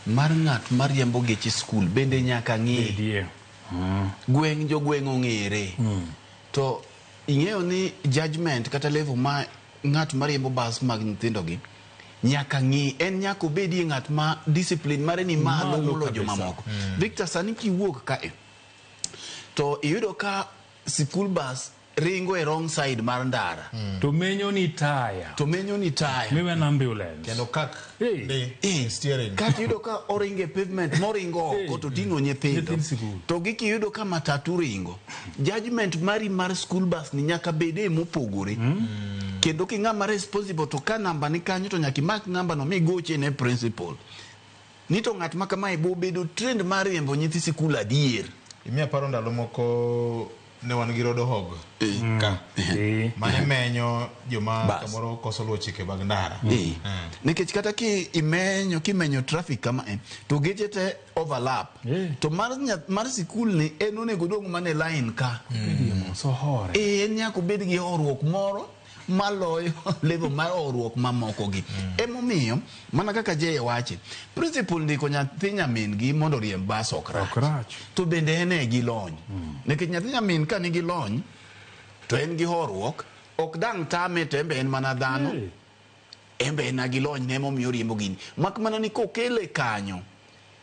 Mar ng'at ma riembo geche skul bende nyaka ng'e. Bedie. Mm. Gweng' jogweng' ong'ere. Mm. To ing'eyo ni judgment kata level ma ng'at ma riembo bas mag nyithindogi nyaka ng'i en nyaka obedie ng'at ma discipline mare ni malo molo jomamoko. Mm. Victor, sani kiwuok kae to iyudo ka sikul bas Ringo e wrong side mar ndara. Mm. To menyo ni taya. To menyo ni taya. Miwe an ambulance. Kendo kak. Hey. Ndi. Hey. Steering. Kati yudo ka oringo e pavement moringo hey. koto tingo nyithindo. To giki yudo ka matatu ringo. Judgment mari mar school bus ni nyaka bede mopogore. Mm. mm. Kendo ki ng'ama responsible to ka namba ni kanyo to nyaka imak namba no migoche ne principal. Ni to ng'at ma kamae bo bedo trend mar riembo nyithi sikul adier. Imiyo aparo ndalo moko ne wan gi rodo hog eh. ka eh. mane menyo joma kamoro koso luwo chike mag ndara eh. nikech kata ki imenyo kimenyo traffic kama eh, to geche te overlap eh. to mar, mar sikul ni en onego dong' mane line ka mm. so hore eh, en nyaka obed gi horuok moro maloyo level mar horuok mamokogi emomiyo mana kaka jeye wache principal ndiko nyathi nyamin gi mondo riemb bas ok rach Ok rach. to bende en e gi lony nikech nyathi nyamin ka nigi lony to en gi horuok ok dang' tame to en be en mana dhano Hey. Enbe en a gi lony ne emomiyo oriembo gini. Mak mana ni kokele kanyo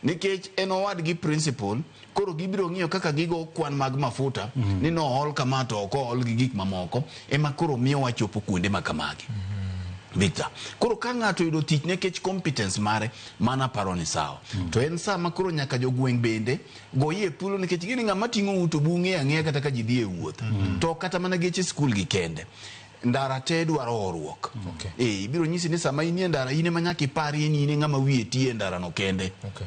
nikech en owadgi principal koro gibiro ng'iyo kaka gigo kwan mag mafuta mm -hmm. ni nool kama to ok ool gi gik mamoko ema koro miyo wachopo kuonde ma kamagi mm -hmm. Victor koro ka ng'ato yudo tich nekech competence mare mana paro ni sawa mm -hmm. to en saa ma koro nyaka jogweng' bende goyie thuolo nikech gini ng'ama ting'o uto bung'e ang'eya kata ka ji dhi e wuoth mm -hmm. to kata mana geche skul gi kende ndara te dwaro horuok okay. e, ibiro nyisi ni sama inie ndara in ema nyaka iparie ni in ng'ama wiye tie ndarano kende okay.